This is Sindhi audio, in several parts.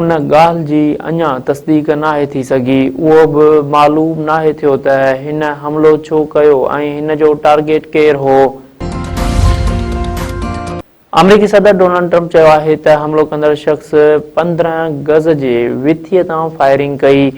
ان ڳالهه جي اڃا تصديق ناهي ٿي سگهي، اهو به معلوم ناهي ٿيو ته هن حملو ڇو ڪيو ۽ هن جو ٽارگيٽ ڪير هو. آمريڪي صدر ڊونلڊ ٽرمپ چيو آهي ته حملو ڪندڙ شخص پندرهن گز جي وٿيء تان فائرنگ ڪئي،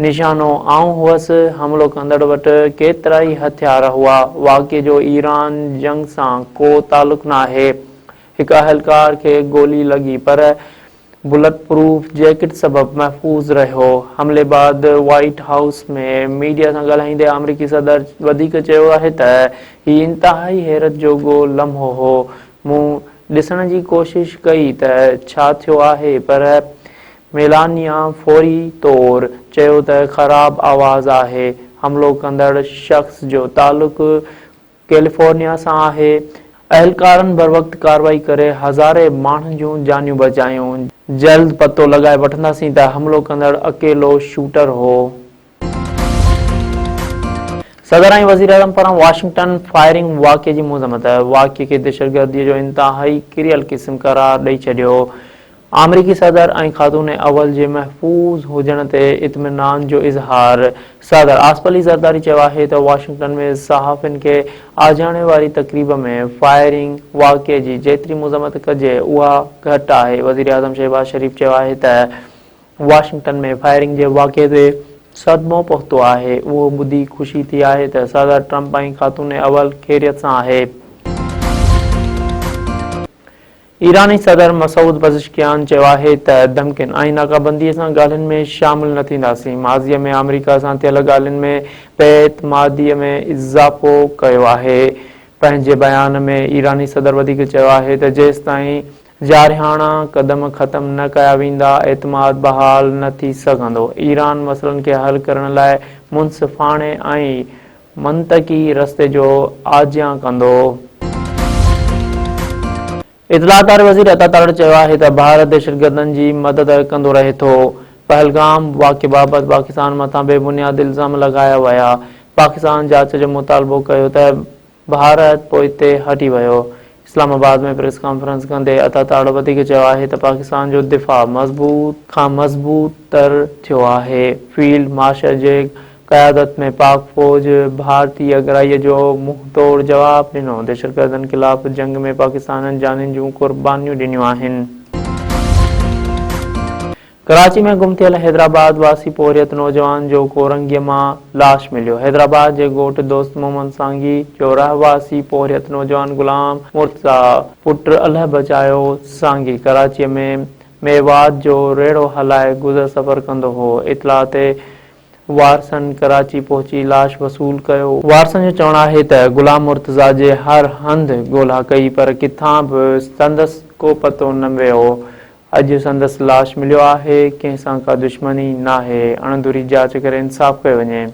نشانو آئون هئس، حملو ڪندڙ وٽ ڪيترائي هٿيار هئا، واقعي جو ايران جنگ سان ڪو تعلق ناهي، هڪ اهلڪار کي گولي لڳي پر. بلٽ پروف جيڪٽ سبب محفوظ رهيو. حملي بعد وائيٽ هائوس ۾ ميڊيا سان ڳالهائيندي آمريڪي صدر وڌيڪ چيو آهي ته هي انتهائي حيرت جوڳو لمحو هو. مون ڏسڻ جي ڪوشش ڪئي ته ڇا ٿيو آهي پر ميلانيا فوري طور چيو ته خراب آواز آهي. حملو ڪندڙ شخص جو تعلق ڪيليفورنيا سان آهي، اهلڪارن بروقت ڪارروائي ڪري هزارين ماڻهن جون جانيون بچايون، جلد پتو لڳائي وٺنداسين ته حملو ڪندڙ اڪيلو شوٽر هو. صدر ۽ وزيراعظم پاران واشنگٽن فائرنگ واقعي جي مذمت، واقعي کي دهشتگردي جو انتهائي ڪريل قسم قرار ڏئي ڇڏيو، آمريڪي صدر ۽ خاتون اول جي محفوظ هجڻ تي اطمينان جو اظهار، صدر آصف علي زرداري چيو آهي ته واشنگٽن ۾ صحافين کي آجياڻي واري تقريب ۾ فائرنگ واقعي جي جيتري مذمت ڪجي اها گهٽ آهي، وزيراعظم شهباز شريف چيو آهي ته واشنگٽن ۾ فائرنگ جي واقعي تي صدمو پهتو آهي، اهو ٻڌي خوشي ٿي آهي ته صدر ٽرمپ ۽ خاتون اول خيريت سان آهي. ايراني صدر مسعود پزشڪيان چيو آهي ته ڌمڪين ۽ ناڪابندي سان ڳالهين ۾ شامل نه ٿينداسين، ماضي ۾ آمريڪا سان ٿيل ڳالهين ۾ بي اعتمادي ۾ اضافو ڪيو آهي. پنهنجي بيان ۾ ايراني صدر وڌيڪ چيو آهي ته جيستائين جارحاڻا قدم ختم نه ڪيا ويندا اعتماد بحال نه ٿي سگهندو، ايران مسئلن کي حل ڪرڻ لاء منصفاڻي ۽ منطقي رستي جو آجيان ڪندو. اطلاع ڪار وزير عطا تارڙ چيو آهي ته ڀارت دهشتگردن جي مدد ڪندو رهي ٿو، پهلگام واقعي بابت پاڪستان مٿان بي بنياد الزام لڳايا ويا، پاڪستان جاچ جو مطالبو ڪيو ته ڀارت پوئتي هٽي ويو، اسلام آباد ۾ پريس ڪانفرنس ڪندي عطا تاڙ وڌيڪ چيو آهي ته پاڪستان جو دفاع مضبوط کان مضبوط تر ٿيو آهي، فيلڊ مارشل جي قيادت ۾ پاڪ فوج ڀارتي اڳرائي جو منهن ٽوڙ جواب ڏنو، دهشتگردن خلاف جنگ ۾ پاڪستانن جانين جون قربانيون ڏنيون آهن. ڪراچي ۾ گم ٿيل حيدرآباد واسي پورهيت نوجوان جو ڪورنگيء مان لاش مليو، حيدرآباد جي ڳوٺ دوست محمد سانگي جو رهواسي پورهيت نوجوان غلام مرتضيٰ پٽ الهه بچايو سانگي ڪراچيء ۾ ميوات جو ريڙهو هلائي گذر سفر ڪندو هو، اطلاع تي وارثن ڪراچي پهچي لاش وصول ڪيو، وارثن جو چوڻ آهي ته غلام مرتضيٰ جي هر هنڌ ڳولها ڪئي پر ڪٿان به سندس ڪو پتو نه ويو، اڄ سندس لاش مليو آهي، ڪنهن سان ڪا دشمني ناهي، اڻڌري جاچ ڪري انصاف ڪيو وڃي.